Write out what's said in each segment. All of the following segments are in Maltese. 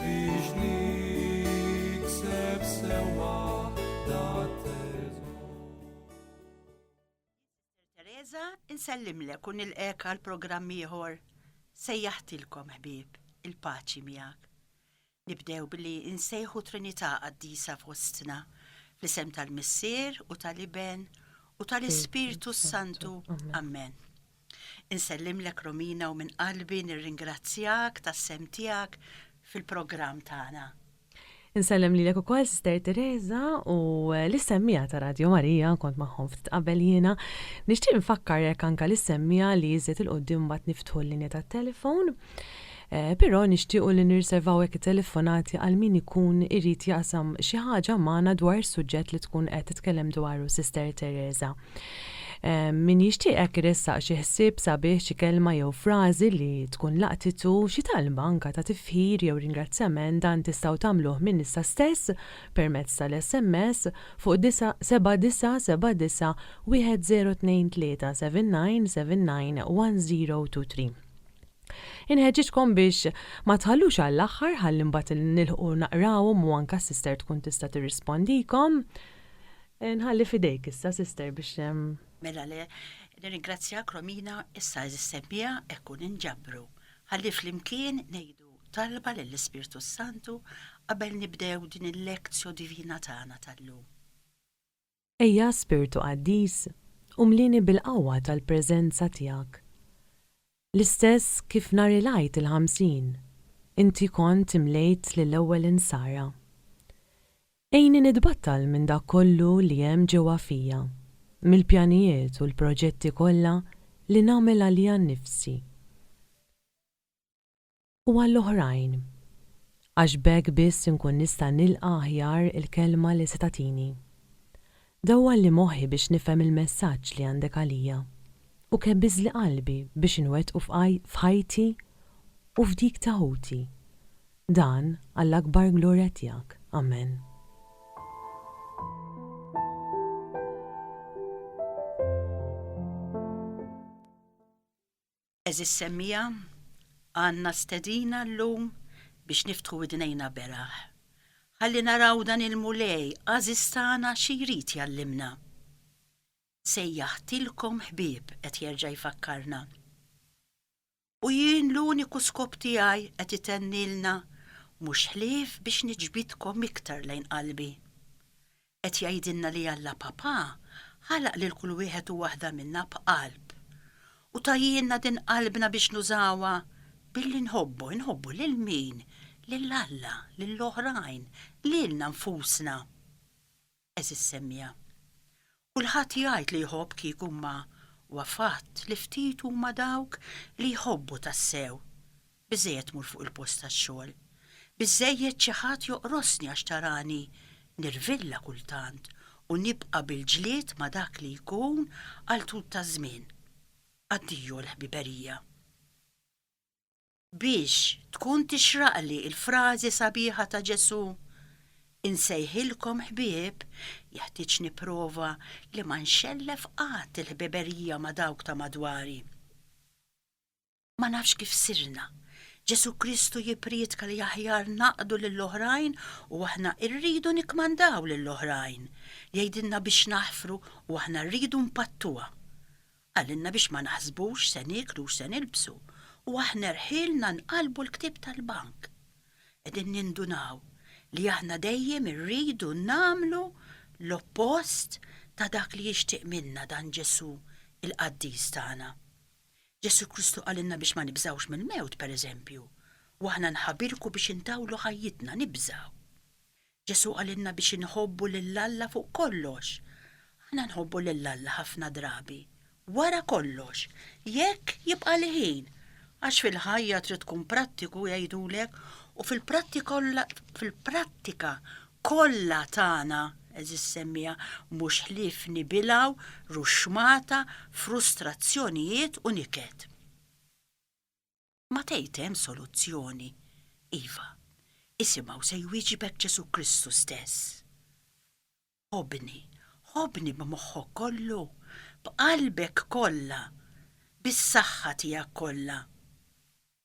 Biex nikseb sewwa Teresa, insellimlek u nilqek għal programm ieħor sejjaħtilkom ħbieb il-paċi miegħek. Nibdew billi insejħu Trinità qaddisa fostna fl-isem tal-Missier u tal-Iben u tal-Ispirtu Santu. Amen. Insellimlek Romina u minn qalbi nirringrazzjak tas-sehem tiegħek fil-programm tagħna. Insellem lilek ukoll Sister Teresa u lis-semmiegħa ta' Radio Marija, kont magħhom ftit qabel jiena. Nixtieq nfakkarek anke lis-semmiegħa li iżjed 'il quddiem imbagħad niftħu l-linja tat-telefon. Però nixtiequ li nirriservaw hekk it-telefonati għal min ikun irid jaqsam xi ħaġa magħna dwar is-suġġett li tkun qed titkellem dwaru Sister Teresa. Min jixtieq hekk iressaq xi ħsieb sabiħ, xi kelma jew frażi li tkun laqtitu, xi talba anke ta' tifħir jew ringrazzjament dan tistgħu tagħmluh minn issa stess permezz tal-SMS fuq 7979 1023 7979 1023. Inħeġġiġkom biex ma tħallux għall-aħħar ħalli mbagħad nilħqu naqrawhom u anke s-sister tkun tista' tirrispondikom. Eh, nħalli fidejk issa sister biex ehm, Mela le, nirringrazzjak Romina issa eżis semmija ekku ninġabru. Ħalli flimkien ngħidu talba lill-Ispirtu s-Santu qabel nibdew din il-lektio divina tagħna tal-lum. Ejja, Spirtu Qaddis, u mlieni bil-qawwa tal-preżenza tiegħek. L-istess kif nhar il-Għid il-Ħamsin, inti kont imlejt lill-ewwel insara. Għinni nitbattal minn dak kollu li hemm ġewwa fija, mill-pjanijiet u l-proġetti kollha li nagħmel għalija nnifsi. u għall-oħrajn, għax b'hekk biss inkun nista' nilqa' aħjar il-kelma li se tagħtini. Dawwalli moħħi biex nifhem il-messaġġ li għandek għalija, u kebbiżli qalbi biex inwettqu f'ħajti u f'dik ta' ħuti. Dan għall-akbar glorja tiegħek. Amen. Għeżież semmiegħa, għandna stedina llum biex niftħu widnejna beraħ, ħalli naraw dan il-Mulej għażiż tagħna xi jrid jgħallimna. Sejjaħtilkom ħbieb, qed jerġa' jfakkarna. U jien l-uniku skop tiegħi, qed itennilna, mhux ħlief biex niġbidkom iktar lejn qalbi. Qed jgħidilna li Alla Papà ħalaq lil kull wieħed u waħda minna b'qalb u tajjielna din qalbna biex nużawha billi nħobbu, inħobbu lil min? Lil Alla, lil oħrajn, lilna nfusna. Għeżież semmiegħa, kulħadd jgħid li jħobb kieku imma huwa fatt li ftit huma dawk li jħobbu tassew. Biżżejjed mur fuq il-post tax-xogħol. Biżżejjed xi ħadd joqrosni għax tarani nirvilla kultant u nibqa' bil-ġlied ma' dak li jkun għal tul taż-żmien. Addio l-ħbiberija. Biex tkun tixraqli l-frażi sabiħa ta' Ġesù, Insejħilkom ħbieb, jeħtieġ nipprova li ma nxellef qatt il-ħbiberija ma' dawk ta' madwari. Ma nafx kif sirna. Ġesu Kristu jiprietka li aħjar naqdu lill-oħrajn u aħna rridu nikmandaw lill-oħrajn. Jgħidilna biex naħfru u aħna rridu npattuha. Qalilna biex ma naħsbux se nieklu u se nilbsu u aħna rħilna nqallbu l-ktieb tal-bank. Qegħdin nindunaw li aħna dejjem irridu nagħmlu l-oppost ta' dak li jixtieq minna dan Ġesu il-qaddis tagħna. Ġesù Kristu qalilna biex ma nibżgħux mill-mewt, pereżempju, u aħna nħabirku biex intawlu ħajjitna, nibżgħu. Ġesù qalilna biex inħobbu lil Alla fuq kollox. Aħna nħobbu lil Alla ħafna drabi, wara kollox, jekk jibqagħli ħin, għax fil-ħajja trid tkun prattiku jgħidulek u fil-prattika kollha tagħna, għeżież semmiegħa, mhux ħlief nibilgħu ruxxmata, frustrazzjonijiet u niket. Ma tgħid hemm soluzzjoni? Iva, isimha u se jwieġibek Ġesù Kristu stess. Ħobbni, ħobbni b'moħħok kollu, b'qalbek kollha, bis-saħħa tiegħek kollha.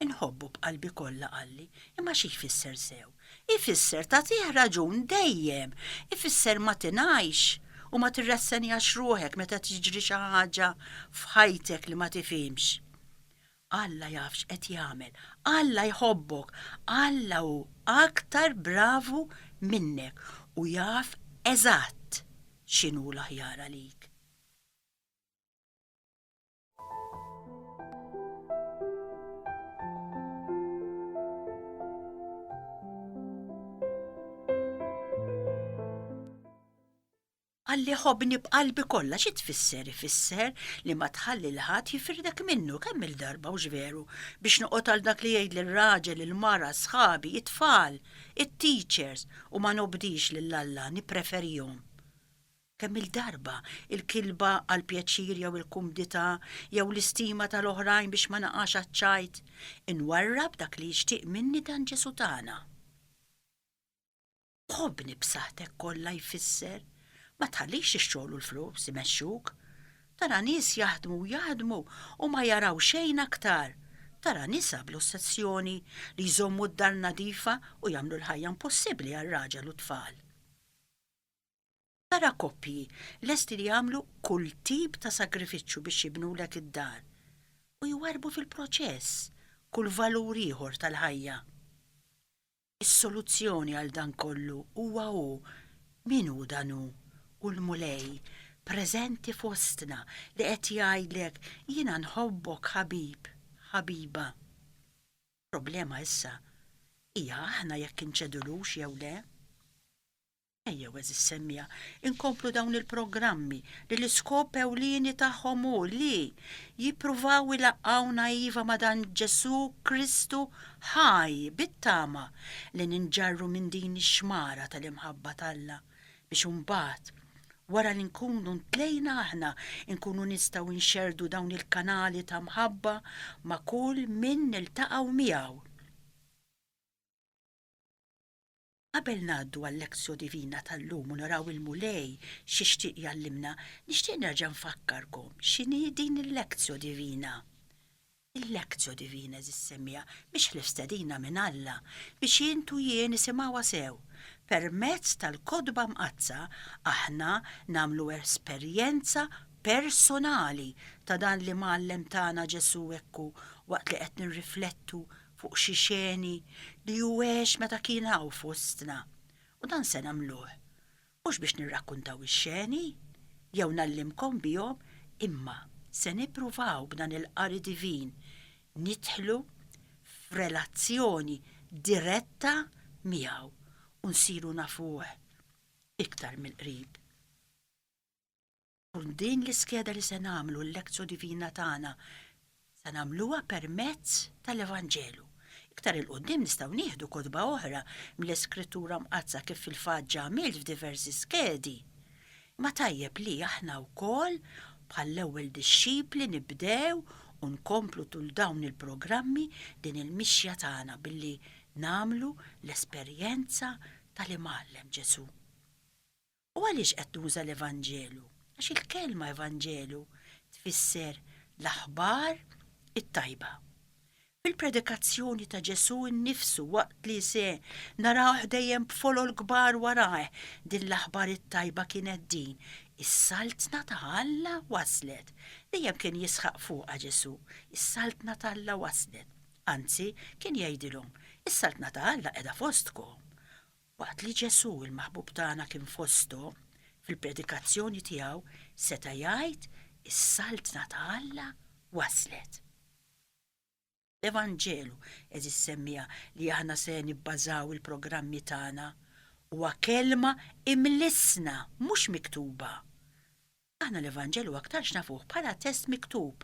Inħobbu b'qalbi kollha Qalli, imma xi jfisser sew? Ifisser tagħtih raġun dejjem, ifisser ma tingħajx u ma tirrassenjax ruħek meta tiġri xi ħaġa f'ħajtek li ma tifhimx. Alla jaf x'qed jagħmel, Alla jħobbok, Alla hu aktar bravu minnek u jaf eżatt x'inhu l-aħjar għalik. Għalli ħobni b'qalbi kollha xi tfisser ifisser li ma tħalli l-ħadd jifirdek minnu kemm il-darba u veru biex noqgħod għal dak li jgħid lir-raġel il-mara sħabi it-tfal it-teachers u ma nobdix lil Alla nippreferihom. Kemm-il darba l-kilba għall-pjaċir jew il-kumdità jew l-istima tal-oħrajn biex ma naqax għaċ-ċajt, inwarrab dak li jixtieq minni dan Ġesù tagħna? Ħobbni b'saħħtek kollha jfisser, ma tħallix ix-xogħol u l-flus imexxuk. Tara nies jaħdmu u jaħdmu u ma jaraw xejn aktar. Tara nisa bl-ossessjoni li jżommu d-dar nadifa u jagħmlu l-ħajja impossibbli għar-raġel u t-tfal. Tara koppji lesti li jagħmlu kull tip ta' sagrifiċċju biex jibnulek id-dar u jwarrbu fil-proċess kull valur ieħor tal-ħajja. Is-soluzzjoni għal dan kollu huwa hu, min hu dan hu, hu l-Mulej preżenti fostna li qed jgħidlek jiena nħobbok ħabib, ħabiba. Il-problema issa hija aħna jekk inċedulux jew le. Ejjew, għeżież semmiegħa, inkomplu dawn il-programmi li l-iskop ewlieni tagħhom hu li jippruvaw ilaqqgħuna iva ma' dan Ġesù Kristu ħaj bit-tama li ninġarru minn din ix-xmara tal-imħabba t'Alla biex imbagħad, wara li nkunu ntlejna aħna, inkunu nistgħu nxerrdu dawn il-kanali ta' mħabba ma' kull min niltaqgħu miegħu. Qabel ngħaddu għal-Lectio Divina tal-lum u naraw il-Mulej x'jixtieq jgħallimna, nixtieq nerġa' nfakkarkom x'inhi din il-Lectio Divina. Il-Lectio Divina, eżiż semmiegħa, mhix ħlief stedina minn Alla biex int u jien nisimgħuha sew. Permezz tal-Kotba Mqaddsa aħna nagħmlu esperjenza personali ta' dan li mgħallem tagħna Ġesù hekk hu waqt li qed nirriflettu fuq xi xeni li hu għex meta kien hawn fostna, u dan se nagħmluh, mhux biex nirrakkuntaw ix-xeni, jew ngħallimkom bihom, imma se nippruvaw b'dan il-qari divin nidħlu f'relazzjoni diretta miegħu u nsiru nafuh iktar mill-qrib. Skont din l-iskeda li se nagħmlu l-Lectio Divina tagħna se nagħmluha permezz tal-Evanġelu. Iktar 'il quddiem nistgħu nieħdu kotba oħra mill-Iskrittura Mqaddsa kif fil-fatt ġa għamilt f'diversi skedi. Imma tajjeb li aħna wkoll bħall-ewwel dixxipli nibdew u nkomplu tul dawn il-programmi din il-mixja tagħna billi nagħmlu l-esperjenza tal-Imgħallem Ġesù. U għaliex qed nuża l-Evanġelu? Għax il-kelma Evanġelu tfisser l-aħbar it-tajba. Fil-predikazzjoni ta' Ġesù nnifsu waqt li se narawh dejjem b'folol kbar warajh, din l-aħbar it-tajba kienet din, is-Saltna ta' Alla waslet. Dejjem kien jisħaq fuqha Ġesù, is-Saltna t'Alla waslet. Anzi, kien jgħidilhom, is-Saltna ta' Alla qiegħda fostkom. Waqt li Ġesù, il-Maħbub tagħna kien fosthom, fil-predikazzjoni tiegħu seta' jgħid, Is-Saltna ta' Alla waslet. L-Evanġelu, għeżież semmiegħa li aħna se nibbażaw il-programmi tagħna, huwa kelma imlissna, mhux miktuba. Aħna l-Evanġelju aktarx nafuh bħala test miktub,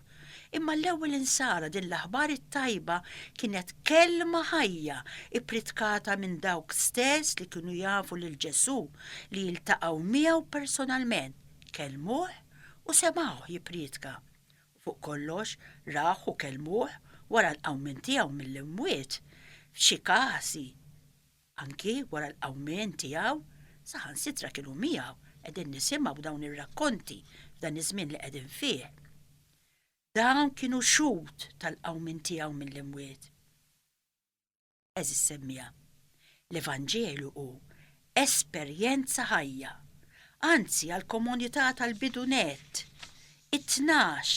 imma l-ewwel insara din l-aħbar it-tajba kienet kelma ħajja ippritkata minn dawk stess li kienu jafu lil Ġesù, li jiltaqgħu miegħu personalment, kellmuh u semgħuh jipprietka, u fuq kollox rawh u kellmuh wara l-qawmien tiegħu mill-imwiet, f'xi każi Anki wara l-qawmien tiegħu, saħansitra kienu miegħu qegħdin nisimgħu dawn ir-rakkonti f'dan iż-żmien li qegħdin fih. Dawn kienu xhud tal-qawmien tiegħu mill-imwiet. Għeżież semmiegħa, l-Evanġelju hu esperjenza ħajja, anzi għall-komunità tal-bidu nett, It-tnax,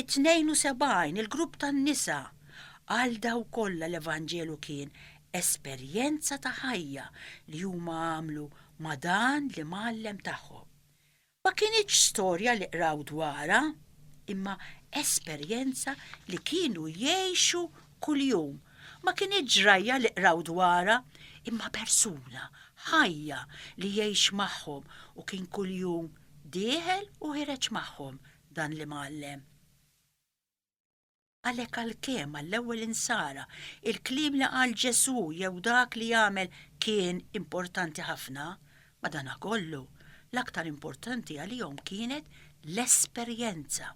it-tnejn u sebgħin, il-grupp tan-nisa, għal dawn kollha l-Evanġelu kien esperjenza ta' ħajja li huma għamlu ma' dan l-Imgħallem tagħhom. Ma kinitx storja li qraw dwarha, imma esperjenza li kienu jgħixu kuljum. Ma kinitx ġrajja li qraw dwarha, imma persuna ħajja li jgħix magħhom u kien kuljum dieħel u ħereġ magħhom dan l-imgħallem. Għalhekk għalkemm għall-ewwel insara il-kliem li qal Ġesù jew dak li għamel kien importanti ħafna, madanakollu l-aktar importanti għalihom kienet l-esperjenza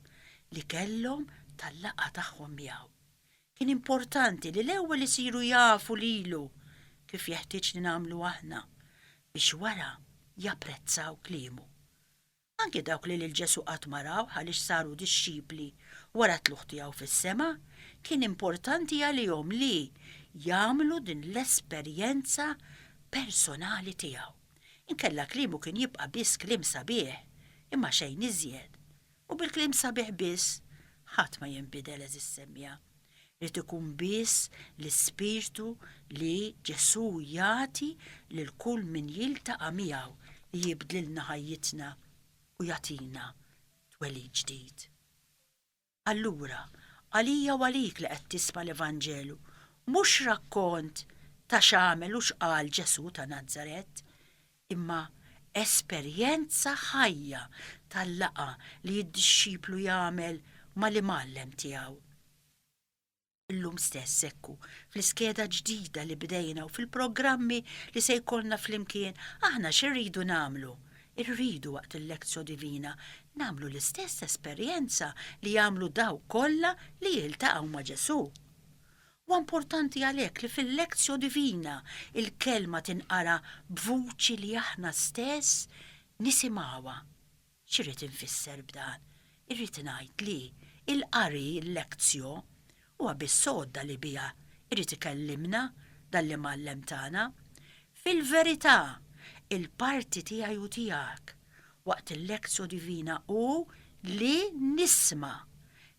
li kellhom tal-laqgħa tagħhom miegħu. Kien importanti li l-ewwel isiru jafu lilu, kif jeħtieġ li nagħmlu aħna, biex wara japprezzaw kliemu. Anki dawk li lil Ġesù qatt ma rawh għaliex saru dixxipli wara t-tlugħ tiegħu fis-sema, kien importanti għalihom li jagħmlu din l-esperjenza personali tiegħu. Inkella kliemu kien jibqa' biss kliem sabiħ, imma xejn iżjed. U bi kliem sabiħ biss ħadd ma jinbidel għeżież semmiegħa. Irid ikun biss l-ispirtu li Ġesù jagħti lil kull min jiltaqa' miegħu li jibdlilna ħajjitna u jagħtina twelid ġdid. Allura, għalija u għalik li qed tisma' l-Evanġelu, mhux rakkont ta' x'għamel u x'qal Ġesù ta' Nazaret, imma esperjenza ħajja tal-laqgħa li d-dixxiplu jagħmel mal-Imgħallem tiegħu. Illum stess hekk hu, fl-iskeda ġdida li bdejna u fil-programmi li se jkollna flimkien, aħna x'irridu nagħmlu? Irridu waqt il-Lectio Divina nagħmlu l-istess esperjenza li għamlu dawk kollha li jiltaqgħu ma' Ġesù. Huwa importanti għalhekk li fil-Lectio Divina l-Kelma tinqara b'vuċi li aħna stess nisimgħuha. X'irrid infisser b'dan? Irrid ngħid li l-qari, il-Lectio, huwa biss għodda li biha jrid ikellimna dan l-Imgħallem tagħna. Fil-verità, il-parti tiegħi u tiegħek waqt il-Lectio Divina hu li nisma',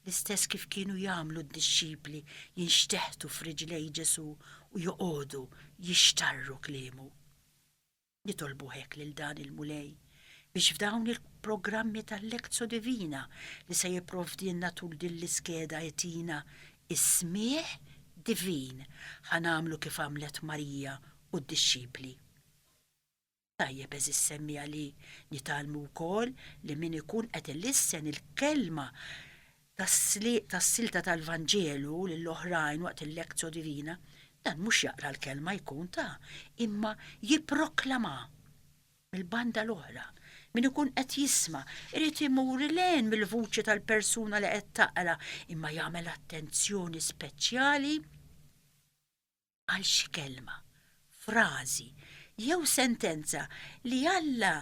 l-istess kif kienu jagħmlu d-dixxipli jinxteħtu f'riġlej Ġesù u joqogħdu jixtarru kliemu. Nitolbu hekk lil dan il-Mulej biex f'dawn il-programmi tal-Lectio Divina li se jipprovdilna tul din l-iskeda jtina s-smigħ divin ħa nagħmlu kif għamlet Marija u d-dixxipli. Tajjeb għeżież semmiegħa li nitgħallmu wkoll li min ikun qed ilissen il-kelma tas-silta tal-Vanġelu lil oħrajn waqt il-Lectio Divina, dan mhux jaqra l-kelma jkun ta, imma jipproklamha. Mill-banda l-oħra, min ikun qed jisma' irid imur 'il hinn mill-vuċi tal-persuna li qed taqra imma jagħmel attenzjoni speċjali, għal xi kelma, frażi, jew sentenza li Alla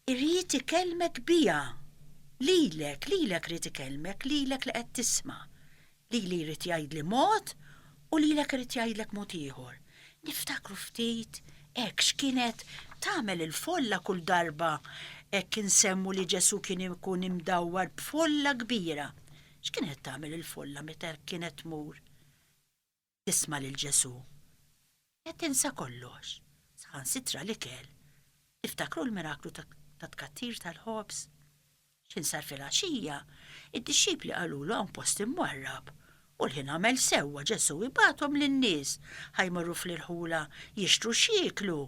jrid ikellmek biha, lilek, lilek irid ikellmek, lilek li qed tisma'. Lili jrid jgħidli mod u lilek irid jgħidlek mod ieħor. Niftakru ftit hekk x'kienet tagħmel il-folla kull darba hekk insemmu li Ġesù kien ikun imdawwar b'folla kbira. X'kienet tagħmel il-folla meta kienet tmur? tisma' lil Ġesù, qed tinsa kollox, saħansitra l-ikel. Tiftakru l-miraklu tat-tkattir tal-ħobż? X'insar filgħaxija, id-dixxipli qalulu hawn post imwarrab, u l-ħin għamel sewwa Ġesù ibagħathom lin-nies ħa jmorru fl-irħula jixtru x'jieklu.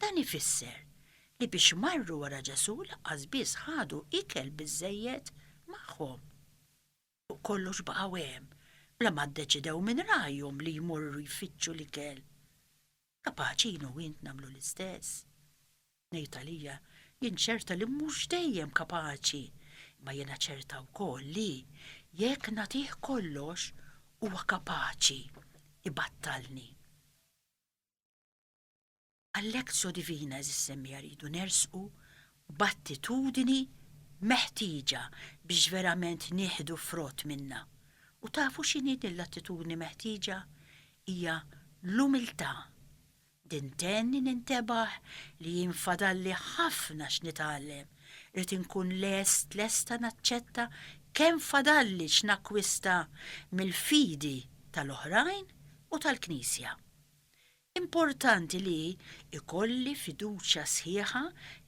Dan ifisser li biex marru wara Ġesù lanqas biss ħadu ikel biżżejjed magħhom. u kollox baqgħu hemm bla ma ddeċidew minn rajhom li jmorru jfittxu l-ikel. Kapaċi jien u int nagħmlu l-istess. Ngħid għalija, jien ċerta li mhux dejjem kapaċi, imma jiena ċerta wkoll li, jekk nagħtih kollox, huwa kapaċi ibattalni. Għall-Lectio Divina eżissemmija rridu nersqu b'attitudini meħtieġa biex verament nieħdu frott minnha. U tafu x'inhi din l-attitudni meħtieġa? Hija l-umiltà. Din tenni nintebaħ li jien fadalli ħafna x'nitgħallem. Rrid inkun lest lesta naċċetta kemm fadalli x'nakkwista mill-fidi tal-oħrajn u tal-Knisja. Importanti li jkolli fiduċja sħiħa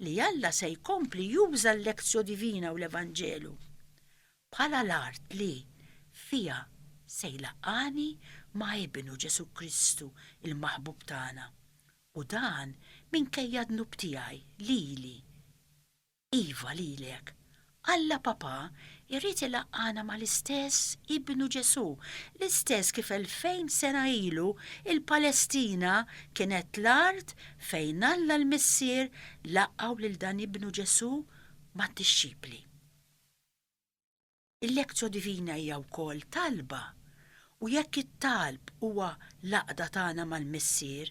li Alla se jkompli juża l-Lectio Divina u l-Evanġelu bħala l-art li fiha se jlaqqagħni ma' Ibnu, Ġesù Kristu, il-Maħbub tagħna, u dan minkejja d-dnub tiegħi lili. Iva lilek. Alla Papà jrid ilaqqagħna mal-istess Ibnu Ġesù, l-istess kif elfejn sena ilu l-Palestina kienet l-art fejn Alla l-Missier laqqgħu lil dan Ibnu Ġesù mad-dixxipli. Il-lectio divina hija wkoll talba, u jekk it-talb huwa l-għaqda tagħna mal-Missier,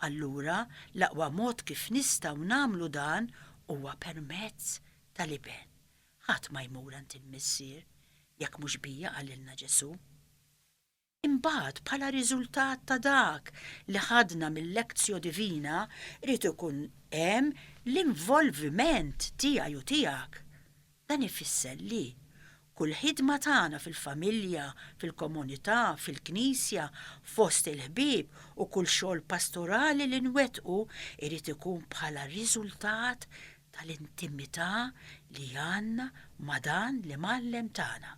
allura l-aqwa mod kif nistgħu nagħmlu dan huwa permezz tal-Iben. Ħadd ma jmur għand il-Missier jekk mhux bija qalilna Ġesù. Imbagħad, bħala riżultat ta' dak li ħadna mil-lectio divina, irid ikun hemm l-involviment tiegħi u tiegħek. Dan ifisser li kull ħidma tagħna fil-familja, fil-komunità, fil-Knisja, fost il-ħbieb u kull xogħol pastorali li nwettqu irid ikun bħala riżultat tal-intimità li għandna ma' dan l-Imgħallem tagħna.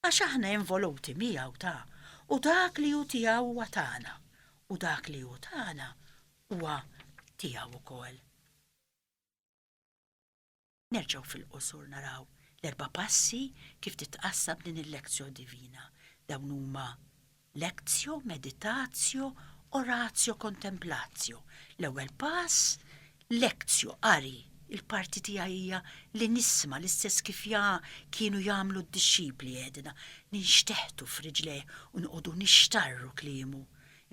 għax aħna involuti miegħu ta' u dak li hu tiegħu huwa tagħna u dak li hu tagħna huwa tiegħu wkoll. Nerġgħu fil-qosor naraw l-erba' passi kif titqassam din il-lezzjoni divina. Dawn huma Lectio meditatio oratio contemplatio L-ewwel pass, Lectio, qari, il-parti tiegħi hija li nisma' l-istess kif kienu jagħmlu d-dixxipli għedna ninxteħtu f'riġlejh u noqogħdu nixtarru kliemu.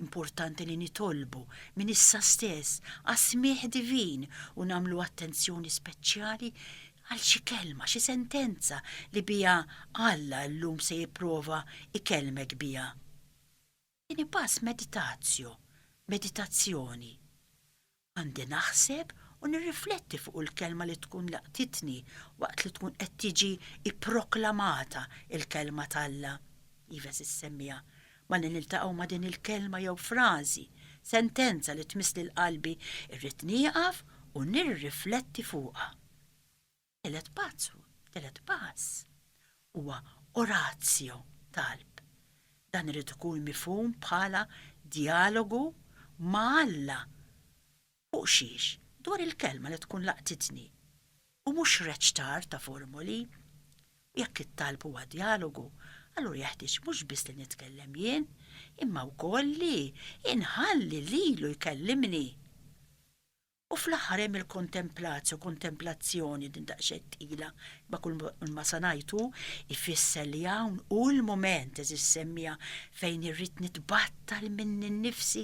Importanti li nitolbu, minn issa stess, għas-smigħ divin u nagħmlu attenzjoni speċjali għal xi kelma, xi sentenza li biha Alla llum se jipprova jkellmek biha. Tieni pass meditatio, meditazzjoni. Għandi naħseb u nirrifletti fuq il-kelma li tkun laqtitni waqt li tkun qed tiġi pproklamata l-kelma t'Alla, iva se ssemmiha, Malli niltaqgħu ma' din il-kelma jew frażi, sentenza li tmiss lil qalbi, irrid nieqaf u nirrifletti fuqha. It-tielet pazzu, it-tielet pass, huwa oratio, talb. Dan irid ikun mifhum bħala djalogu ma' Alla Fuq xiex? Dwar il-kelma li tkun laqtitni, u mhux reċtar ta' formoli. U jekk it-talb huwa djalogu, allura jeħtieġ mhux biss li nitkellem jien, imma wkoll li inħalli lilu jkellimni. U fl-aħħar hemm il-kontemplatio, kontemplazzjoni, din daqsxejn tqila, imma kulma se ngħid hu jfisser li hawn hu l-mument, eżis semmiegħa, fejn irrid nitbattal minni nnifsi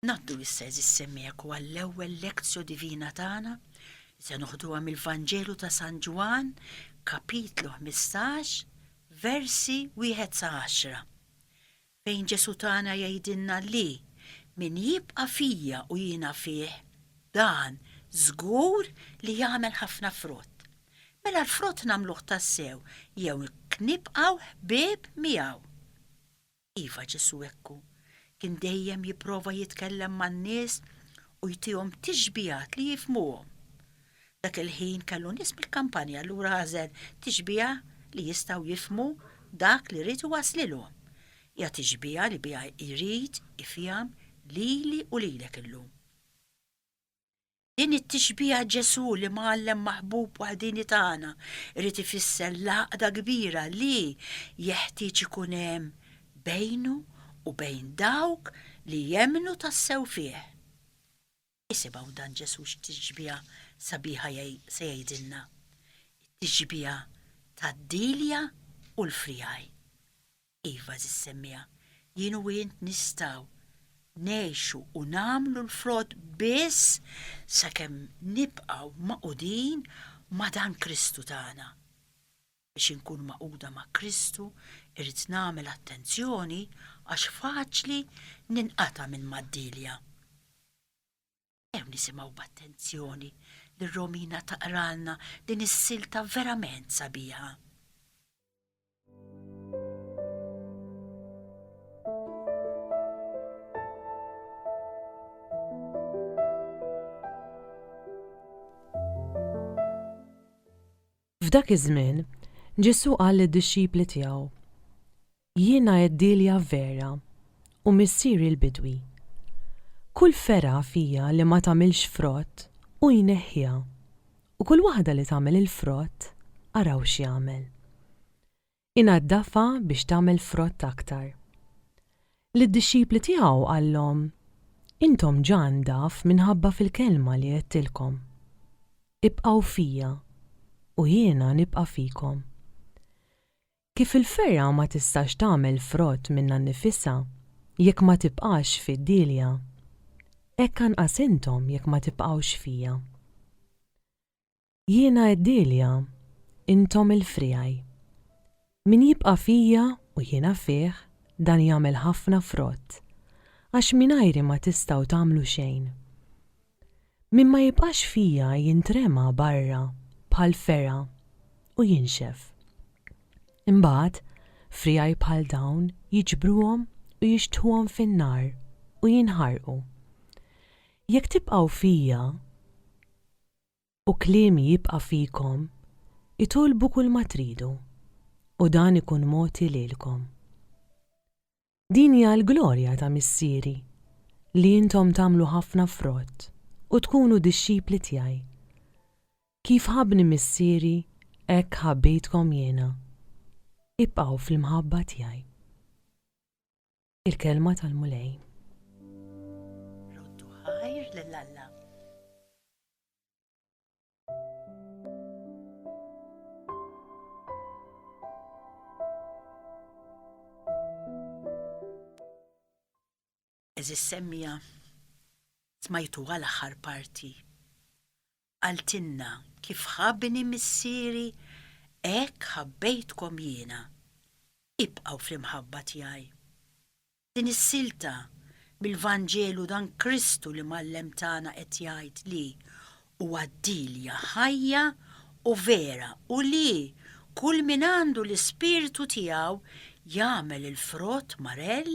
Ngħaddu issa eżis semmeku għall-ewwel lektio divina tagħna li se noħduha mill-Vanġelu ta' San Ġwann, kapitlu 15, versi wieħed sa 10. Fejn Ġesu tagħna jgħidilna li min jibqa' fija u jiena fih, dan żgur li jagħmel ħafna frott. Mela l-frott nagħmluh tassew jew nibqgħu ħbieb miegħu. Iva, Ġesù hekk hu. Kien dejjem jipprova jitkellem man-nies u jtihom tixbigħat li jifhmuhom. Dak il-ħin kellu nies mill-kampanja allura għażel tixbigħa li jistgħu jifhmu dak li ried iwasslilhom. Hija tixbigħa li biha jrid ifiham lili u lilek illum. Din it-tixbiha Ġesù li mgħallem maħbub waħdini tagħna irid ifisser l-għaqda kbira li jeħtieġ ikun hemm bejnu u bejn dawk li jemmnu tassew fih. Isimgħu dan Ġesù x'tixbiha sabiħa se jgħidilna, it-tixbiha tad-dielja u l-friegħi. Iva, għażiż semmiegħa, jien u int nistgħu ngħixu u nagħmlu l-frott biss sakemm nibqgħu magħqudin ma' dan Kristu tagħna. Biex inkun magħquda ma' Kristu irrid nagħmel attenzjoni għax faċli ninqata' minn Maddilja. Ew nisimgħu b'attenzjoni li Romina taqralna din is-silta verament sabiħa. F'dak iż-żmien, Ġesù qal lid-dixxipli tiegħu, Jiena għeddielja vera u Missieri l-bidwi. Kull fergħa fija li ma tagħmilx frott, hu jneħħiha, u kull waħda li tagħmel il-frott, araw x'jagħmel. Inaddafha biex tagħmel frott aktar. Lid-dixxipli tiegħu qallhom, Intom ġa ndaf minħabba fil-kelma li għedtilkom. Ibqgħu fija, u jiena nibqa' fikom. Kif il-fergħa ma tistax tagħmel frott minnha nnifisha jekk ma tibqax fid-dielja, hekk anqas intom jekk ma tibqgħux fija. Jiena għeddielha, Intom il-friegħi. Min jibqa' fija u jiena fih, dan jagħmel ħafna frott, għax mingħajri ma tistgħu tagħmlu xejn. Min ma jibqax fija jintrema barra bħal fergħa u jinxef. Imbagħad, friegħi bħal dawn jiġbruhom u jixtħuhom fin-nar u jinħarqu. Jekk tibqgħu fija, u kliemi jibqa' fikom, itolbu kulma tridu, u dan ikun mogħti lilkom. Din hija l-glorja ta' Missieri, li intom tagħmlu ħafna frott u tkunu dixxipli tiegħi. Kif ħabbni Missieri, hekk ħabbejtkom jiena. Ibqgħu fl-imħabba tiegħi. Il-Kelma tal-Mulej. Roddu ħajr lil Alla. Eżis semmija smajtu għal aħħar parti qaltilna, Kif ħabbni Missieri, hekk ħabbejtkom jiena. Ibqgħu fl-imħabba tiegħi. Din is-silta mill-Vanġelu dan Kristu li mgħallem tagħna qed jgħid li Huwa d-Dilja ħajja u vera u li kull min għandu l-Ispirtu tiegħu jagħmel il-frott marell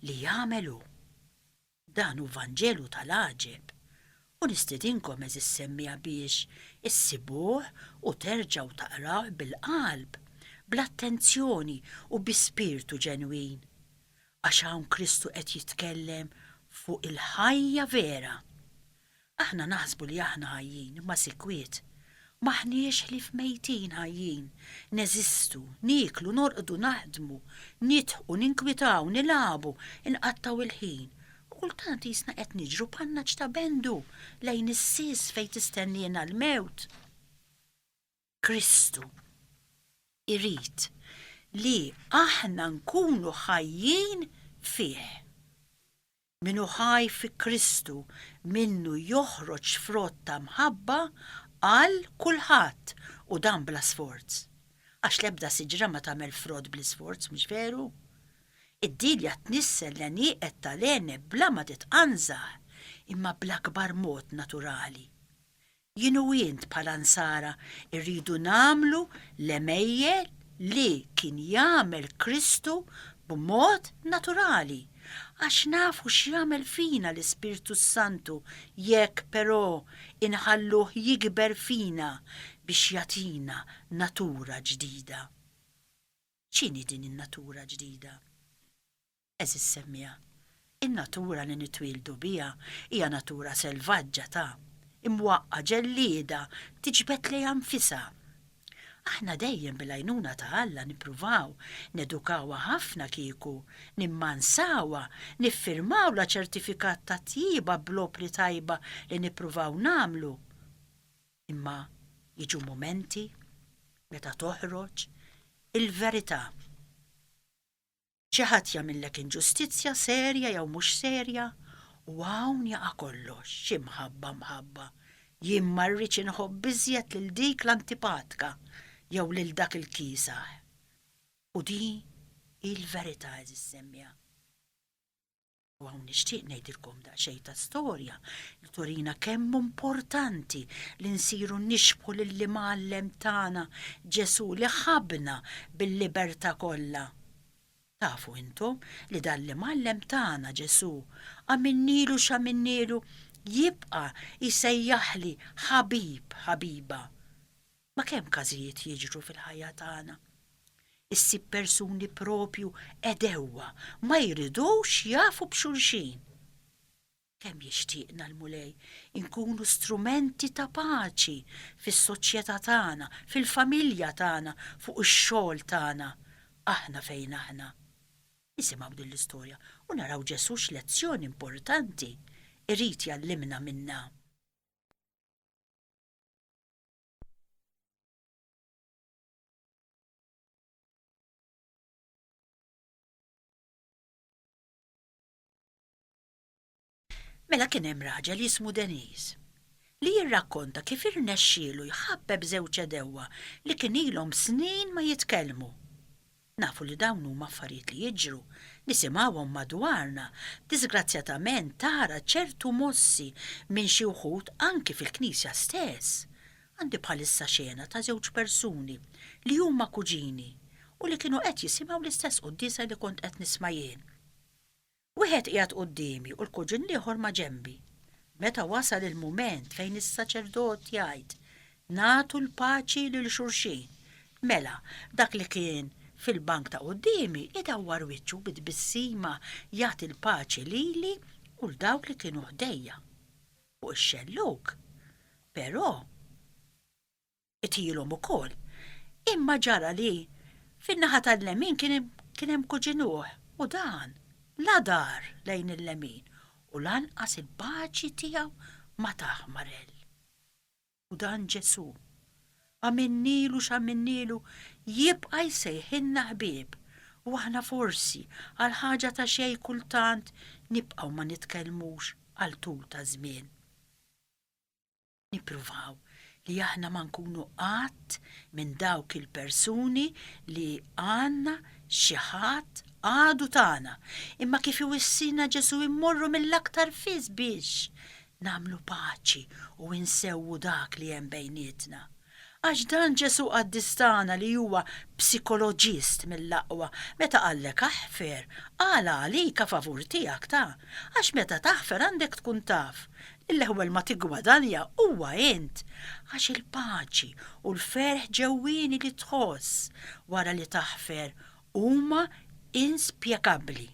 li jagħmel Hu. Dan hu Vanġelu tal-għaġeb, u nistedinkom għeżież semmiegħa biex issibuh u terġgħu taqrawh bil-qalb, bl-attenzjoni u bi spirtu ġenwin. Għax hawn Kristu qed jitkellem fuq il-ħajja vera. Aħna naħsbu li aħna ħajjin, imma sikwit. M'aħniex ħlief mejtin, ħajjin. Neżistu, nieklu, norqdu, naħdmu, nidħku, ninkwitaw, nilagħbu, inqattgħu il-ħin, u kultant qisna qed niġru b'ħannaġ ta' bendu lejn is-sies fejn tistenniena l-mewt. Kristu irid li aħna nkunu ħajjin fih. Min hu ħaj fi Kristu minnu joħroġ frott ta' mħabba għal kulħadd u dan bla sforz. Għax l-ebda siġra ma tagħmel frott bl-isforz, mhux veru? Id-dilja tnissel l-għenieqed tal-għeneb bla ma titqanżaħ, imma bl-akbar mod naturali. Jien u int bħala Nsara rridu nagħmlu l-għemejjel li kien jagħmel Kristu b'mod naturali, għax nafu x'jagħmel fina l-Ispirtu s-Santu jekk però inħalluh jikber fina biex jagħtina natura ġdida. X'inhi din in-natura ġdida? Għeżież semmiegħa, in-natura li nitwieldu biha hija natura selvaġġa ta', imwaqqa', ġellieda, tiġbed lejha nfisha. Aħna dejjem bil-għajnuna ta' Alla nippruvaw nedukawha ħafna kieku, nimmansawha, niffirmawlha ċertifikat ta' tjieba bl-opri tajba li nippruvaw nagħmlu. Imma jiġu mumenti meta toħroġ il-verità. Xi ħadd jagħmillek inġustizzja serja jew mhux serja, u hawn jaqa' kollox, xi mħabba mħabba, jien ma rridx inħobb iżjed lil dik l-antipatka jew lil dak il-kiesaħ. U din hi l-verità għeżiż semmiegħa. U hawn nixtieq ngħidilkom daqsxejn ta' storja li turina kemm importanti li nsiru nixbħu lill-imgħallem tagħna Ġesù li ħabna bil-libertà kollha. Tafu intom li dan l-imgħallem tagħna Ġesù għamilnielu x'għamilnielu jibqa' jsejjaħli ħabib ħabiba. Ma kemm każijiet jiġru fil-ħajja tagħna! Issib persuni proprju għedewwa, ma jridux jafu b'xulxin. Kemm jixtieqna l-Mulej inkunu strumenti ta' paċi fis-soċjetà tagħna, fil-familja tagħna, fuq ix-xogħol tagħna, aħna fejn aħna. Nisimgħu din l-istorja u naraw Ġesù x'lezzjoni importanti irid jgħallimna minnha. Mela kien hemm raġel jismu Deniz li jirrakkonta kif irnexxielu jħabbeb żewġ edewwa li kien ilhom snin ma jitkellmu. Nafu li dawn huma affarijiet li jiġru, nisimgħuhom madwarna, diżgrazzjatament tara ċertu mossi minn xi wħud anki fil-Knisja stess. Għandi bħalissa xena ta' żewġ persuni li huma kuġini u li kienu qed jisimgħu l-istess quddiesa li kont qed nisma' jien. Wieħed qiegħed quddiemi u l-kuġin l-ieħor maġenbi. Meta wasal il-mument fejn is-saċerdot jgħid, Nagħtu l-paċi lil xulxin, mela, dak li kien fil-bank ta' quddiemi idawwar wiċċu bi tbissima jagħti l-paċi lili u 'l dawk li kienu ħdejja. Fuq ix-xellug, però, qtilhom ukoll. Imma ġara li fin-naħa tal-lemin kien hemm kuġinuh u dan la dar lejn il-lemin u lanqas il-paċi tiegħu ma tah marell. U dan Ġesù, għamilnielu x'għamilnielu, jibqa' jsejħilna ħbieb u aħna forsi għal ħaġa ta' xejn kultant nibqgħu ma nitkellmux għal tul ta' żmien. Nippruvaw li aħna ma nkunu qatt minn dawk il-persuni li għandna xi ħadd għadu tagħna, imma kif iwissina Ġesù immorru mill-aktar fis biex nagħmlu paċi u insewwu dak li hemm bejnietna. Għax dan Ġesù qaddis tagħna li huwa psikoloġist mill-aqwa meta qallek aħfer, qala għalik a favur tiegħek ta' għax meta taħfer għandek tkun taf L-ewwel ma tiggwadanja huwa int, għax il-paċi u l-ferħ ġewwieni li tħoss wara li taħfer huma inspjegabbli.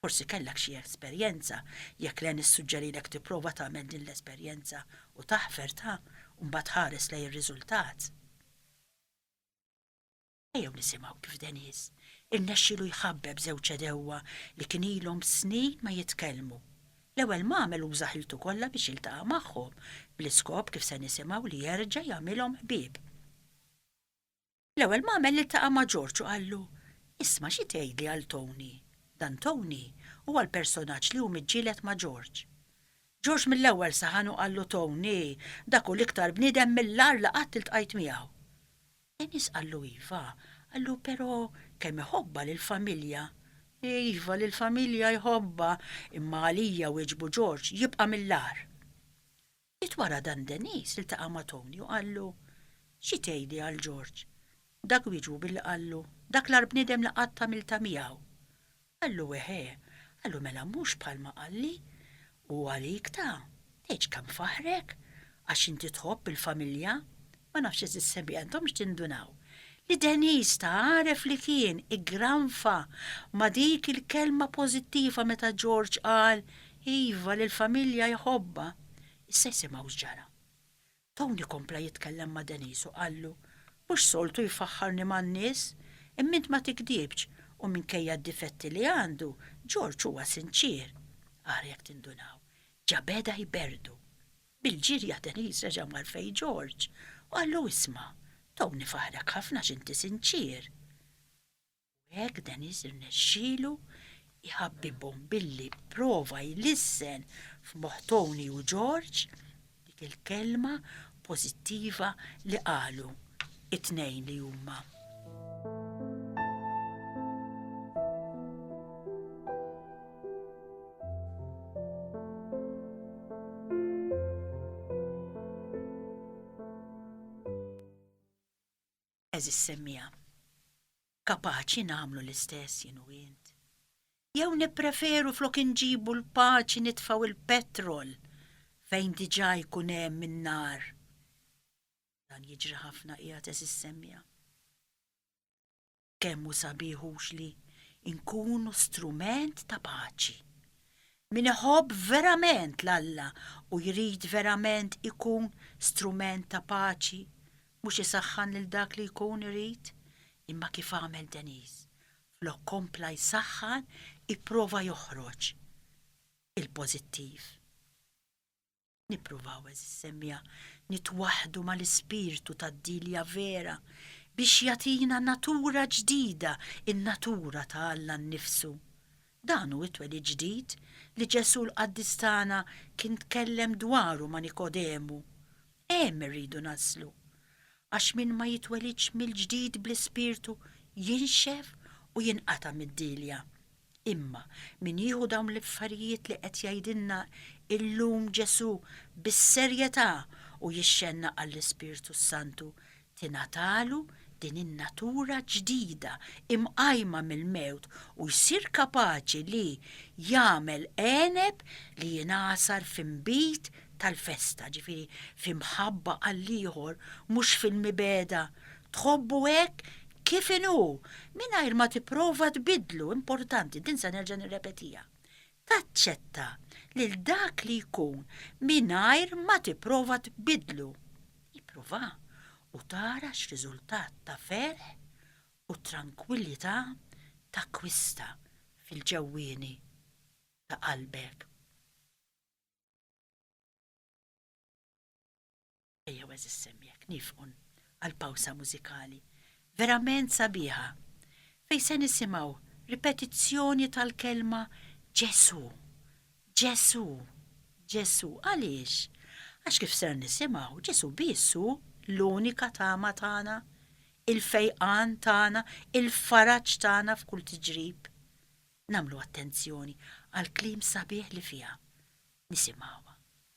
Forsi kellek xi esperjenza, jekk le nissuġġerilek tipprova tagħmel din l-esperjenza u taħfer ta' u mbagħad ħares lejn ir-riżultat. Ejjew nisimgħu kif Denis irnexxielu jħabbeb żewġ għedewwa li kien ilhom snin ma jitkellmu. L-ewwel m'għamel uża ħiltu kollha biex jiltaqa' magħhom, bl-iskop kif se nisimgħu li jerġa' jagħmilhom ħbieb. L-ewwel m'għamel iltaqa' ma' George u qallu, Isma' xi tgħidli għal Tony? Dan Tony huwa l-personaġġ li hu miġġieled ma' George. George mill-ewwel saħan u qallu Tony, dak hu l-iktar bniedem mill-agħar li qatt iltqajt miegħu. Dennis qallu iva, qallu però kemm iħobbha lill-familja. Iva, lill-familja jħobbha, imma għalija wieġbu George jibqa' mill-agħar. Ftit wara dan Dennis iltaqa' ma' Tony u qallu, Xi tgħidi għal George? Dak wieġbu billi qallu, Dak l-agħar bniedem li qatt għamiltha miegħu. Qallu, Eħe. Qallu, Mela mhux bħalma qalli? Hu għalik ta, tgħidx kemm faħħrek? Għax inti tħobb il-familja? Ma nafx għeżież ħbib, intomx tindunaw li Denise ta għaref li kien iggranfa ma dik il-kelma pożittiva meta George qal iva li l-familja jħobbha. Issa jsimgħu x'ġara. Tony kompla jitkellem ma' Denise u qallu, Mhux soltu jfaħħarni man-nies, imma int ma tigdibx u minkejja d-difetti li għandu, George huwa sinċier. Ara jekk tindunaw, ġa beda jberdu. Bil-ġirja Denise reġa' mar fejn George u qallu, Isma', Tony faħħrek ħafna għax inti sinċier. u hekk Dennis irnexxielu jħabbibhom billi pprova jlissen f'moħħ Tony u George dik il-kelma pożittiva li qalu t-tnejn li huma. għeżież semmiegħa. Kapaċi nagħmlu l-istess jien u int? Jew nippreferu flok inġibu l-paċi nitfgħu l-petrol fejn diġà jkun hemm in-nar? Dan jiġri ħafna qiegħed għeżież semmiegħa. Kemm hu sabiħ hux li nkunu strument ta' paċi. Min iħobb verament l-Alla u jrid verament ikun strument ta' paċi Mhux isaħħan lil dak li jkun irid, imma kif għamel Denise, flok kompla jsaħħan ipprova joħroġ il-pożittiv. Nippruvaw, għeżież semmiegħa, nitwaħħdu mal-ispirtu tad-Dilja vera biex jagħtina natura ġdida, in-natura ta' Alla nnifsu. Dan hu t-twelid ġdid li Ġesù l-Qaddis tagħna kien tkellem dwaru ma' Nikodemu. Hemm irridu naslu. Għax min ma jitwelidx mill-ġdid bl-Ispirtu jinxef u jinqata' mid-dielja. Imma min jieħu dawn l-affarijiet li qed jgħidilna illum Ġesù bis-serjetà u jixxennaq għall-Ispirtu s-Santu tingħatalu din in-natura ġdida imqajma mill-mewt u jsir kapaċi li jagħmel għeneb li jingħasar f'inbid tal-festa, ġifieri f'imħabba għall-ieħor, mhux fil-mibegħda, tħobbu hekk kif inhu, mingħajr ma tipprova tbiddlu, importanti, din se nerġa' nirrepetiha, taċċetta lil dak li jkun mingħajr ma tipprova tbiddlu. Ipprova u tara x'riżultat ta' ferħ u trankwillità takkwista fil-ġewwieni ta' qalbek. Ejja għażiż semmijek nifqun għal pawsa mużikali verament sabiħa fejn se nisimgħu ripetizzjoni tal-kelma Ġesù, Ġesù, Ġesù. Għaliex? Għax kif ser nisimgħu, Ġesù biss hu l-unika tama tagħna, il-fejqan tagħna, il-faraġ tagħna f'kull tiġrib. Nagħmlu attenzjoni għall-kliem sabiħ li fiha. Nisimgħuha.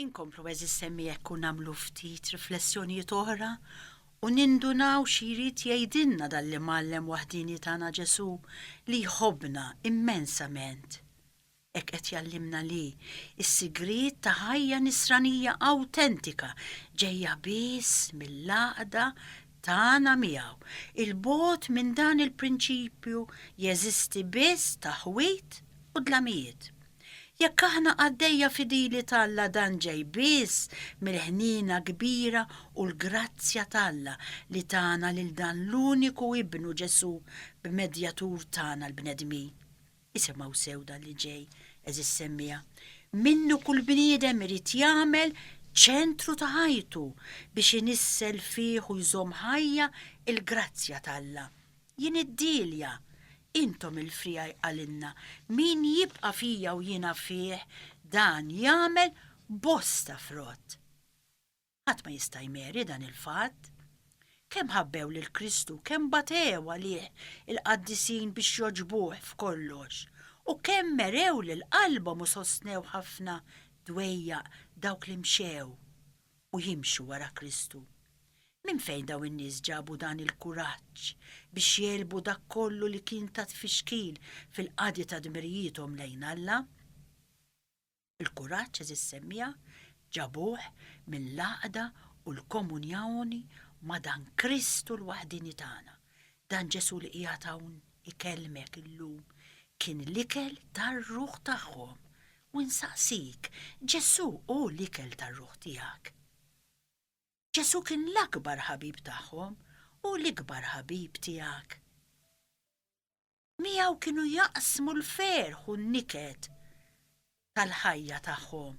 Inkomplu b'hekk is-semmi u nagħmlu ftit riflessjonijiet oħra u nindunaw xi jrid jgħidilna dan l-Imgħallem waħdieni tagħna Ġesù li jħobbna immensament. Hekk qed jgħallimna li s-sigriet ta' ħajja Nisranija awtentika ġejja biss mill-għaqda tagħna miegħu. Il-bogħod minn dan il-prinċipju jeżisti biss ta' ħwit u dlamijiet. Jekk aħna qaddejja fidili t'Alla dan ġej biss mill-ħniena kbira u l-grazzja t'Alla li tana lil dan l-uniku Ibnu Ġesù b'medjatur tagħna l-bnedmin. Isimgħu sew dan li ġej, għeżież semmiegħa, Minnu kull bniedem irid jagħmel ċentru ta' ħajtu biex inissel fih u jżomm ħajja l-grazzja t'Alla. Jien id-dielja, intom il-friegħi qalinna, min jibqa' fija u jiena fih, dan jagħmel bosta frott. Ħadd ma jista' jmeri dan il-fatt. Kemm ħabbew lil Kristu, kemm batew għalih il-qaddisin biex jogħġbuh f'kollox, u kemm merew lil qalbhom u sostnew ħafna dwejjaq dawk li mxew u jimxu wara Kristu. Minn fejn dawn in-nies ġabu dan il-kuraġġ biex jegħlbu dak kollu li kien ta' tfixkil fil-qadi ta' dmirijiethom lejn Alla? Il-kuraġġ, għeżież semmiegħa, ġabuh mill-għaqda u l-komunjoni ma' dan Kristu l-waħdieni tagħna. Dan Ġesù li qiegħed hawn ikellmek illum kien l-ikel tar-ruħ tagħhom U nsaqsik, Ġesù hu l-ikel tar-ruħ tiegħek? Ġesù kien l-akbar ħabib tagħhom, hu l-ikbar ħabib tiegħek? Miegħu kienu jaqsmu l-ferħ u n-niket tal-ħajja tagħhom.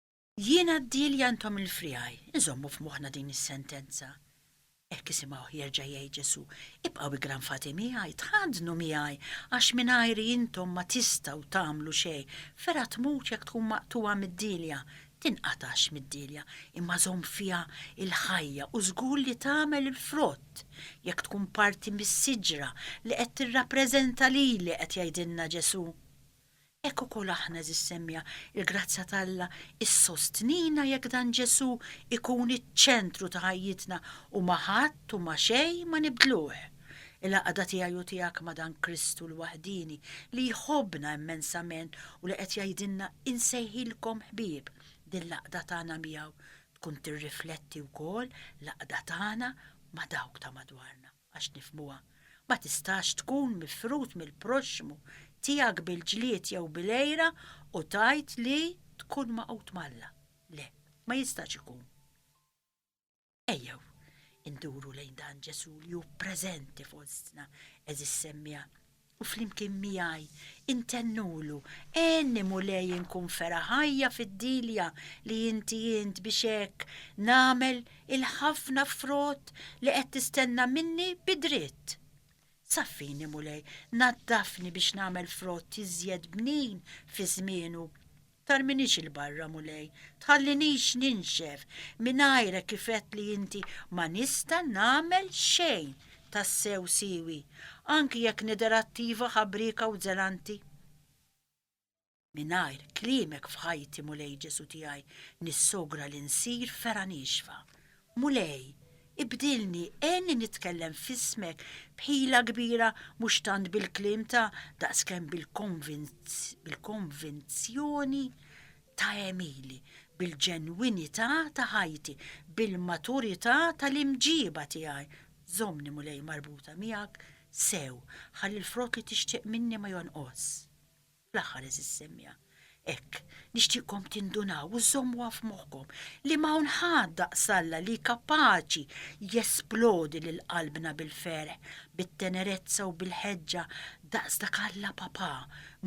Jiena d-dielja intom il-friegħi, inżommu f'moħħna din is-sentenza. Hekk isimgħuh jerġa' jgħid Ġesù, Ibqgħu iggranfati miegħi, tħaddnu miegħi, għax mingħajri intom ma tistgħu tagħmlu xejn. Fergħa tmut jekk tkun maqtugħa mid-dielja? Tinqatax mid-dielja, imma żomm fiha l-ħajja u żgur li tagħmel il-frott jekk tkun parti mis-siġra li qed tirrappreżenta lili, qed jgħidilna Ġesù. Hekk ukoll aħna, għeżież semmiegħa, il-grazzja t'Alla ssostnina jekk dan Ġesù ikun iċ-ċentru ta' ħajjitna u ma' ħadd u ma' xejn ma nibdluh. Il-għaqda tiegħi u tiegħek ma' dan Kristu l-waħdieni li jħobbna immensament u li qed jgħidilna insejħilkom ħbieb, din l-għaqda tagħna miegħu tkun tirrifletti wkoll l-għaqda tagħna ma' dawk ta' madwarna. għax nifhmuha, ma tistax tkun mifrud mill-proxxmu tiegħek bil-ġlied jew bil-għira u tgħid li tkun magħqud m'Alla. Le, ma jistax ikun. Ejjew induru lejn dan Ġesù li hu preżenti fostna, għeżież semmiegħa, u flimkien miegħi intennulu, Għenni Mulej inkun fergħa ħajja fid-dilja li inti int biex hekk nagħmel il-ħafna frott li qed tistenna minni bi dritt. Saffini Mulej, naddafni biex nagħmel frott iżjed bnin fi żmienu. Tarminix 'il barra, Mulej, tħallinix ninxef, mingħajrek kif għedt li inti ma nista' nagħmel xejn tassew siewi, anki jekk nidher attiva, ħabrieka u żelanti. Mingħajr kliemek f'ħajti, Mulej Ġesù tiegħi, nissogra li nsir fergħa niexfa Mulej, ibdilni, għenni nitkellem f'ismek b'ħila kbira mhux tant bil-kliem ta' daqskemm bil-konvinzjoni ta' għemili, bil-ġenwinità ta' ħajti, bil-maturità tal-imġieba tiegħi. Żommni, Mulej, marbuta miegħek sew, ħalli l-frott li tixtieq minni ma jonqos. Fl-aħħar, għeżież semja, hekk, nixtieqkom tindunaw u żżommuha f'moħħkom li ma hawn ħadd daqs Alla li kapaċi jesplodi lil qalbna bil-ferħ, bit-tenerezza u bil-ħeġġa daqs dak Alla Papà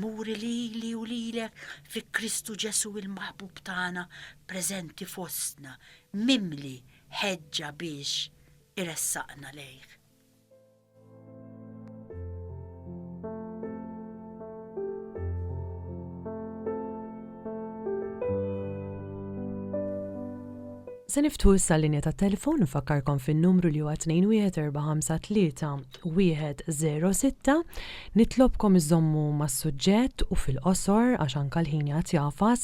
muri lili u lilek fi Kristu Ġesù l-Maħbub tagħna preżenti fostna, mimli ħeġġa biex iressaqna lejh. Se niftu issa l-linja ta' telefon nfakkarkom fin-numru li huwa 21453 Nitlobkom iżommu mas-suġġett u fil-qosor għax anka l-ħin jagħti jafas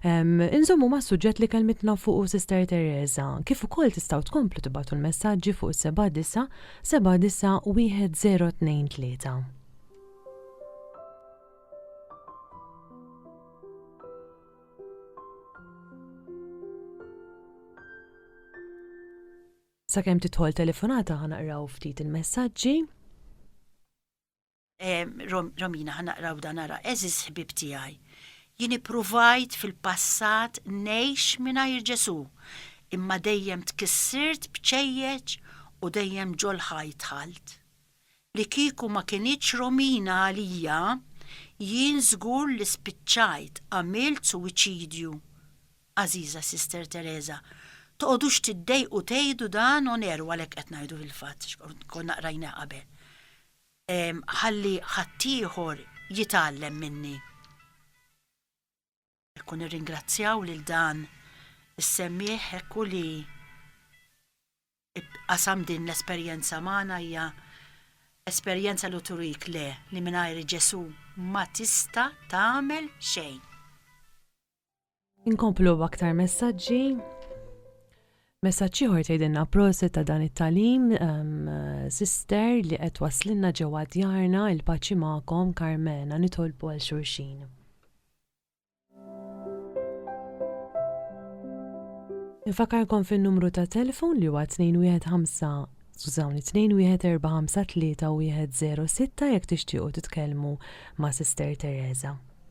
Inżommu mas-suġġett li kelmitna fuqu Sister Teresa, kif ukoll tistgħu tkomplu tibgħatu l-messaġġi fuq is-79 79 1023. Sakemm tidħol telefonata ħa naqraw ftit il-messaġġi. Romina, ħa naqraw dan ara, eżiż ħbib tiegħi. Jien ippruvajt fil-passat ngħix mingħajr Ġesù, imma dejjem tkissirt b'ċejjeċ u dejjem ġol-ħaj dħalt. Li kieku ma kinitx Romina għalija, jien żgur li spiċċajt għamilt suwiċidju. Għażiża Sister Teresa, toqgħodux tiddejqu tgħidu dan on air u għalhekk qed ngħidu fil-fatt, konna qrajniha qabel. ħalli ħaddieħor jitgħallem minni. Hekk u nirringrazzjaw lil dan is-semmiegħ hekk u li qasam din l-esperjenza magħna hija esperjenza li turik le li mingħajr Ġesù ma tista' tagħmel xejn. Inkomplu b'aktar messaġġi. Messaġġ ieħor tgħidilna proset ta' dan it-talim, ehm, sister li qed waslinna ġewwa djarna il-paċi magħkom Karmena nitolbu għal xulxin. Infakarkom fin-numru ta' telefon li huwa 215 Skużawni, 21453 u 106 jekk tixtiequ titkellmu ma' Sister Teresa.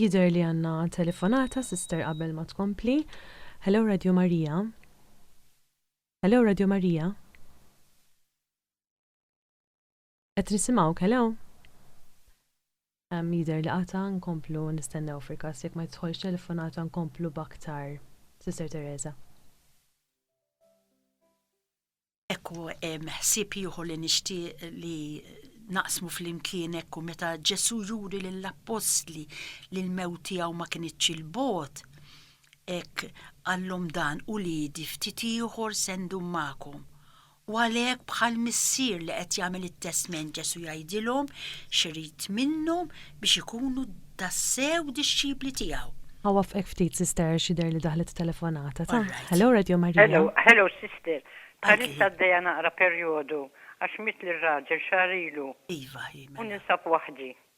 Jidher li għandna telefonata, sister qabel ma tkompli. Hello Radio Marija. Hello Radio Marija. Qed nisimgħu kelew? Jidher li qata' nkomplu nistennew fil-każ jekk ma jidħolx telefonata nkomplu b'aktar Sister Teresa. Hekk hu hemm ħsieb ieħor li nixtieq li naqsmu flimkien hekk hu meta Ġesù juri lill-appostli li l-mewt tiegħu ma kinitx 'il bogħod hekk qallhom dan, Uliedi ftit ieħor se ndum magħkom U għalhekk bħal missier li qed jagħmel it-testment Ġesù jgħidilhom x'irid minnhom biex ikunu tassew dixxipli tiegħu. Ħa waffqek ftit sister għax jidher li daħlet telefonata. Ta, Hello Radio Maria. Hello, hello sister. Bħalissa għaddejja naqra perjodu għax mietli r-raġel xahar ilu. Iva, hi mela. U ninsab waħdi.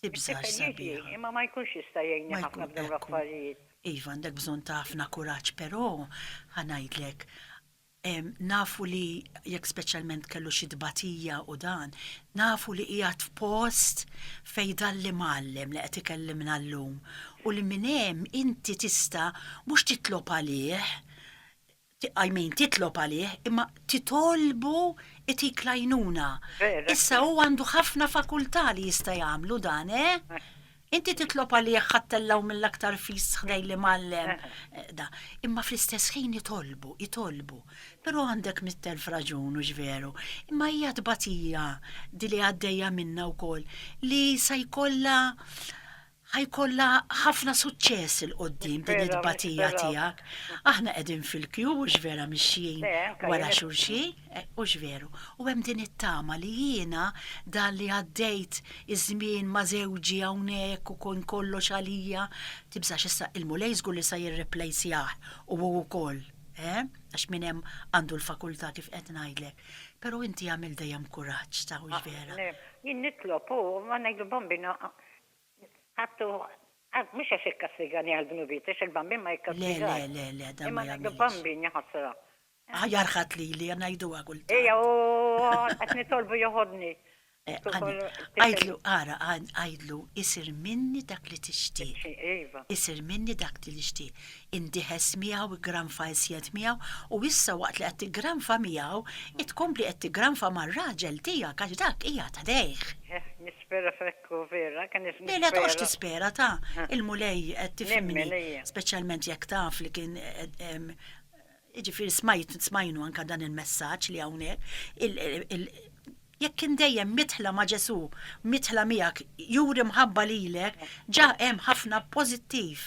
It-tifel jiġi, imma ma jkunx jista' jgħinni ħafna f'dawn l-affarijiet. Iva, għandek bżonn ta' ħafna kuraġġ, però ħa ngħidlek, nafu li jekk speċjalment kellu xi tbatija u dan, nafu li qiegħed f'post fejn dan l-imgħallem li qed ikellimna llum u li minn hemm inti tista' mhux titlob għalih, I mean, titlob għalih, imma titolbu itik l-għajnuna. Vera. Issa hu għandu ħafna fakultà li jista' jagħmlu dan, eh? Inti titlob għalih ħattella hu mill-aktar fis ħdejn l-imgħallem. Da. Imma fl-istess ħin itolbu, itolbu. Però għandek mitt elf raġun, hux veru? Imma hija tbatija di li għaddejja minnha wkoll li sa jkollha Ħa jkollha ħafna suċċess 'il quddiem din it-tbatija tiegħek. Aħna qegħdin fil-kju hux vera mixjin wara xulxin, hux veru, u hemm din it-tama li jiena dan li għaddejt iż-żmien ma' żewġi hawnhekk u kien kollox għalija, tibżax issa il-Mulej żgur li sa jirreplejsjah u hu wkoll, eh, għax min hemm għandu l-fakultà kif qed ngħidlek. Però inti agħmel dejjem kuraġġ, ta' hux vera. Jien nitlob u ngħidlu Bambina Għattu, għad, mhux għax ikkastigani għad-dnubiet, għax il-Bambin ma jikkastigax. Le, le, le, le, dan ma jagħmilx. Imma ngħidu Bambin, ja ħasra. Aħjar ħadd lili, ngħiduha kultant. Ejja, u qed nitolbu joħodni. Għidlu, ara, għidlu, isir minni dak li tixtieq. Iva. Isir minni dak li nixtieq. Indieħes miegħu, iggranfa iżjed miegħu, u issa waqt li qed tiggranfa miegħu, tkompli qed tiggranfa mar-raġel tiegħek għax dak qiegħed ħdejh. Nispera f'hekk. Lejla toqgħodx tispera ta! Il-Mulej qed tifhimni, speċjalment jekk taf li kien jiġifieri smajt smajnu anke dan il-messaġġ li hawnhekk jekk kien dejjem midħla ma' Ġesù, midħla miegħek, juri mħabba lilek, ġa hemm ħafna pożittiv.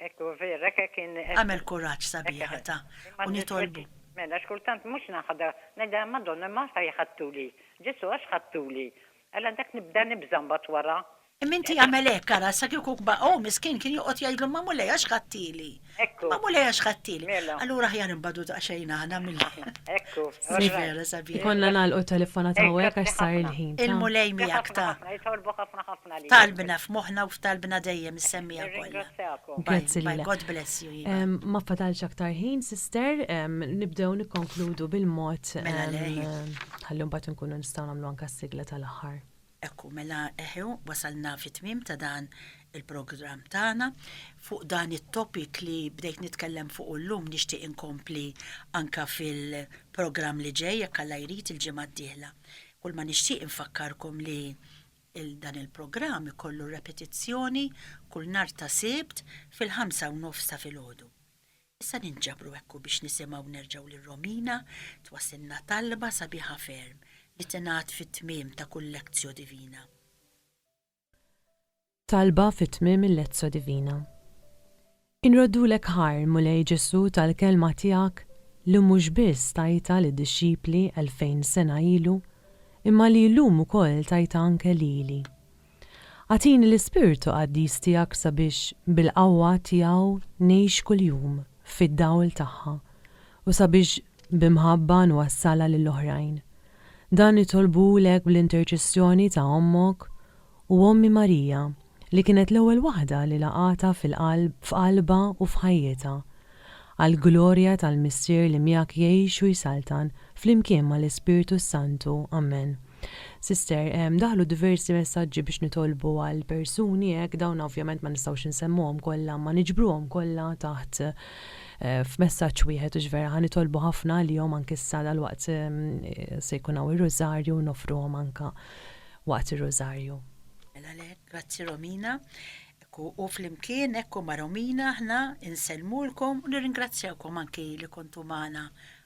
Agħmel kuraġġ sabiħa ta! U nitolbu. Mela x'kultant mhux naħda, ngħidilha Madonna ma għax ħadtuli, Ġesù għax ħadtuli. Għal għandek nibda nibża' mbagħad wara? Imma inti agħmel hekk, ara, sa kieku kba hu miskien kien joqgħod jgħidlu ma Mulej għax ħadtili. Ekku. Imma Mulej għax ħadtili. Mela. Allura aħjar inbagħdu daqsxejn aħna milli. Aħna. Ekku. Sni vera sabiħ. Ikollna nagħlqu t-telefonat hawnhekk għax sar il-ħin. Il-Mulej miegħek ta. Grazzi ħafna ħafna, jitolbu ħafna ħafna lilek. Talbna f'moħħna u f'talbna dejjem issemmieha kollha. Nirringrazzjakom. Grazzi lilek. Bye bye, God bless you iva. Ma fadalx aktar ħin, Sister, nibdew nikkonkludu bil-mod. Mela lei. Ħalli mbagħad inkunu nistgħu nagħmlu anke s-sigla tal-aħħar. Hekk hu, mela eħe hu, wasalna fit-tmiem ta' dan il-programm tagħna. Fuq dan it-topic li bdejt nitkellem fuqu llum nixtieq inkompli anke fil-programm li ġej jekk Alla jrid il-ġimgħa d-dieħla. Kulma nixtieq infakkarkom li dan il-programm ikollu repetizzjoni kull nhar ta' Sibt fil-ħamsa u nofs ta' filgħodu. Issa ninġabru hekk u biex nisimgħu nerġgħu lil Romina twassilna talba sabiħa ferm li tingħad fit-tmiem ta' kull Lectio Divina. Talba fi tmiem il-Lectio Divina. Inroddulek ħajr, Mulej Ġesù tal-Kelma tiegħek li mhux biss tajtha lid-dixxipli elfejn sena ilu imma li llum ukoll tajtha anke lili. Agħtini l-Ispirtu Qaddis tiegħek sabiex bil-qawwa tiegħu ngħix kuljum fid-dawl tagħha u sabiex b'imħabba nwassalha lill-oħrajn. Dan nitolbulek bl-interċessjoni ta' Ommok u Ommi Marija li kienet l-ewwel waħda li laqgħatha f'qalbha u f'ħajjitha, għall-glorja tal-Missier li miegħek jgħix u jsaltan flimkien mal-Ispirtu s-Santu. Amen. Sister, daħlu diversi messaġġi biex nitolbu għal persuni hekk, dawn ovvjament ma nistgħux insemmuhom kollha imma niġbruhom kollha taħt f'messaġġ wieħed u vera ħa nitolbu ħafna għalihom anke issa dalwaqt se jkun hawn ir-Rużarju u noffruhom anke waqt ir-Rużarju. Mela le, grazzi Romina. Ekku, u flimkien ekku ma' Romina aħna insellmulkom u nirringrazzjawkom anke li kontu magħna